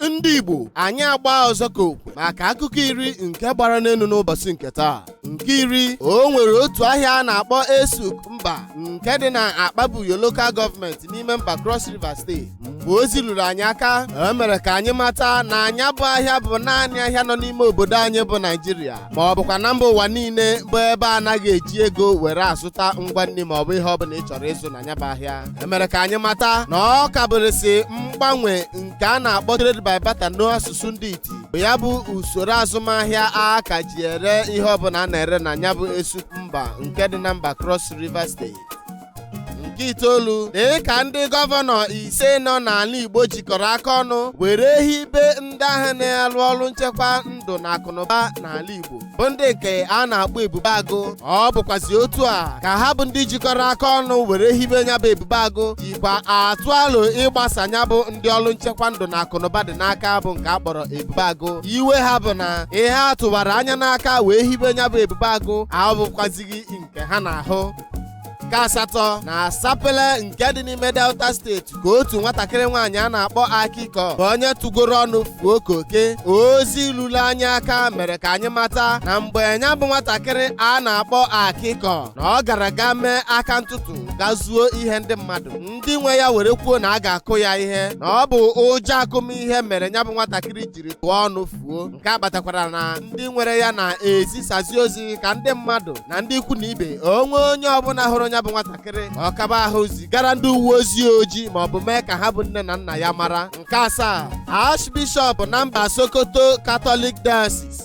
ndị igbo anyị agba ọzọ ka okwe maka akụkọ iri nke gbara n'elu n'ụbọchị nke taa nke iri o nwere otu ahịa a na-akpọ esuk mba nke dị na akpabuyo lokal gọọmenti n'ime mba cross river steeti mgbe ozi ruru anyị aka e mere ka anyị mata na nya bụ ahịa bụ naanị ahịa nọ n'ime obodo anyị bụ naijiria ma ọ bụkwa na mba ụwa niile bụ ebe a naghị eji ego were azụta ngwa nri ma ọ bụ ihe ọ bụla ị chọrọ ịzụ na nya bụ ahịa e mere ka anyị mata na ọ kabụrịsị mgbanwe nke a na-akpọ trade by barter n'asụsụ ndị iti bụ ya bụ usoro azụmahịa a ka ji ere ihe ọbụla a na-ere na nya bụ esuk mba nke dị na mba Cross River steeti nke itoolu dị ka ndị gọvanọ ise nọ n'ala Igbo jikọrọ aka ọnụ were hibe ndị ahụ na-alụ ọrụ nchekwa ndụ na akụnụba n'ala Igbo bụ ndị nke a na-akpọ ebube agụ ọ bụkwazi otu a ka ha bụ ndị jikọrọ aka ọnụ were hibe nya bụ ebube agụ jikwa atụ alo ịgbasa nya bụ ndị ọrụ nchekwa ndụ na akụnụba dị n'aka bụ nke a kpọrọ ebube agụ iwe ha bụ na ihe a tụwara anya n'aka wee hibe nya bụ ebube agụ abụkwazighị nke ha na-ahụ nke asatọ na sapele nke dị n'ime delta steeti ka otu nwatakịrị nwaanyị a na-akpọ akịkọ bụ onye tụgoro ọnụ fuo koke ozi lulu anyị aka mere ka anyị mata na mgbe nya bụ nwatakịrị a na-akpọ akịkọ na ọ gara ga mee aka ntụtụ ga zuo ihe ndị mmadụ ndị nwe ya were kwuo na a ga-akụ ya ihe na ọ bụ ụjọ akụmihe mere nya bụ nwatakịrị jiri tụọ ọnụ fuo nke a kpatakwara na ndị nwere ya na-ezisazi ozi ka ndị mmadụ na ndị ikwu na ibe o nwe onye ọbụla hụrụ nya bụ nwatakịrị ọ kaba ahụ zigara ndị uwe ojii ozi ma ọ bụ mee ka ha bụ nne na nna ya mara nke asaa Archbishop na mba Sokoto Catholic Diocese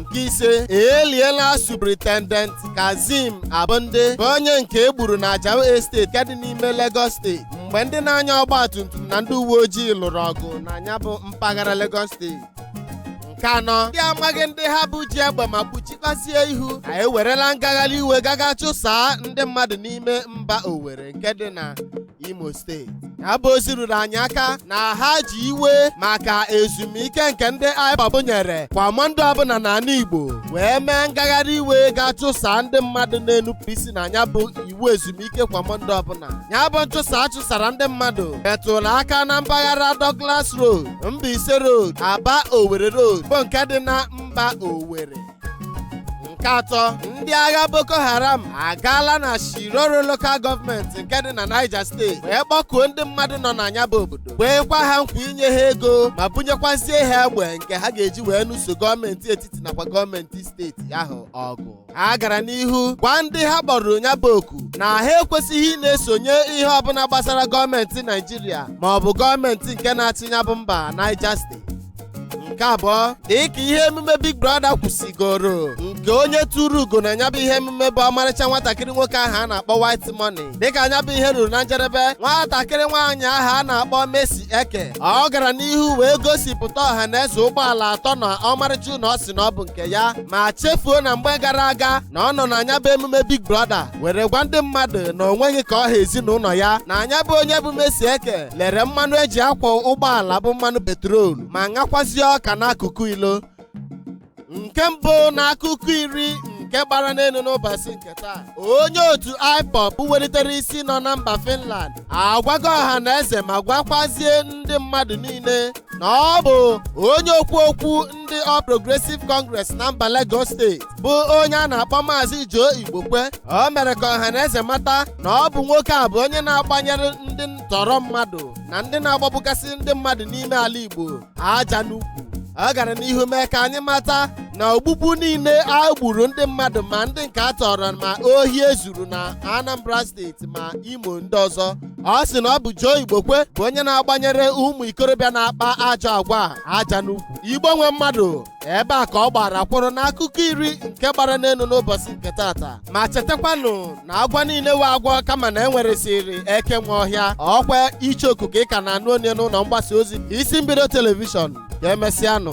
nke ise e liela superintendent kazim abonde bụ onye nke e gburu na ajao esteti nke dị n'ime lagos steeti mgbe ndị na-anya ọgba tum tum na ndị uwe ojii lụrụ ọgụ na nya bụ mpaghara lagos steeti nke anọ ndị amaghị ndị ha bụ ji egbe ma kpuchikwazie ihu ha ewerela ngagharị iwe gaga chụsaa ndị mmadụ n'ime mba Owerri nke dị na imo steeti nya bụ ozi ruru anyị aka na ha ji iwe maka ezumike nke ndị IPOB nyere kwa mọnde ọbụla n'ala igbo wee mee ngagharị iwe ga-achụsa ndị mmadụ na-enupụ isi na nya bụ iwu ezumike kwa mọnde ọbụla nya bụ nchụsa a chụsara ndị mmadụ metụrụ aka na mpaghara Douglas Road Mbaise Road Aba Owerri Road bụ nke dị na mba Owerri nke atọ ndị agha boko haram agaala na shiroro lokal gọọmenti nke dị na niger steeti wee kpọkuo ndị mmadụ nọ na nya bụ obodo kweekwa ha nkwa inye ha ego ma bunyekwazie ha egbe nke ha ga-eji wee nụso gọọmenti etiti nakwa gọọmenti steeti ahụ ọgụ ha gara n'ihu gwa ndị ha kpọrọ nya bụ oku na ha ekwesịghị ị na-esonye ihe ọbụla gbasara gọọmenti naijiria ma ọ bụ gọọmenti nke na-achị nya bụ mba niger steeti nke abụọ dịka ihe emume big brother kwụsịgoro nke onye turu ugo na nya bụ ihe emume bụ ọmarịcha nwatakịrị nwoke ahụ a na-akpọ white money dịka nya bụ ihe ruru na njedebe nwatakịrị nwaanyị ahụ a na-akpọ Mercy Eke ọ gara n'ihu wee gosipụta ọha na eze ụgbọala atọ na ọmarịcha ụnọ ọ sị na ọ bụ nke ya ma chefuo na mgbe gara aga na ọ nọ na nya bụ emume big brother were gwa ndị mmadụ na o nweghị ka ọ ha ezinụnọ ya na nya bụ onye bụ Mercy Eke lere mmanụ eji akwọ ụgbọala bụ mmanụ petrol ma ṅakwazie ọka n'akụkụ ilo nke mbụ n'akụkọ iri nke gbara n'enu n'ụbọsị nke taa onye otu IPOB welitere isi nọ na mba Finland agwago ọha na eze ma gwakwazie ndị mmadụ niile na ọ bụ onye okwu okwu ndị All Progressive Congress na mba Lagos steeti bụ onye a na-akpọ Maazị Joe Igbokwe o mere ka ọha na eze mata na ọ bụ nwoke a bụ onye na-agbanyere ndị ntọrọ mmadụ na ndị na-agbagbugasị ndị mmadụ n'ime ala Igbo aja n'ukwu ọ gara n'ihu mee ka anyị mata na ogbugbu niile a gburu ndị mmadụ ma ndị nke a tọrọ ma ohi e zuru na Anambra steeti ma Imo ndị ọzọ ọ sị na ọ bụ Joe Igbokwe bụ onye na-agbanyere ụmụ ikorobịa na-akpa ajọ agwa a aja n'ukwu igbo nwe mmadụ ebe a ka ọ gbara kwụrụ n'akụkọ iri nke gbara n'enu n'ụbọsị nke taata ma chetakwanụ na agwọ niile wụ agwọ kama na e nweresịrị eke nwe ọhịa ọkwa ichoku ka ị ka na-anụ onu ya n'ụlọ mgbasa ozi isi mbido telivishọn ka emesịanụ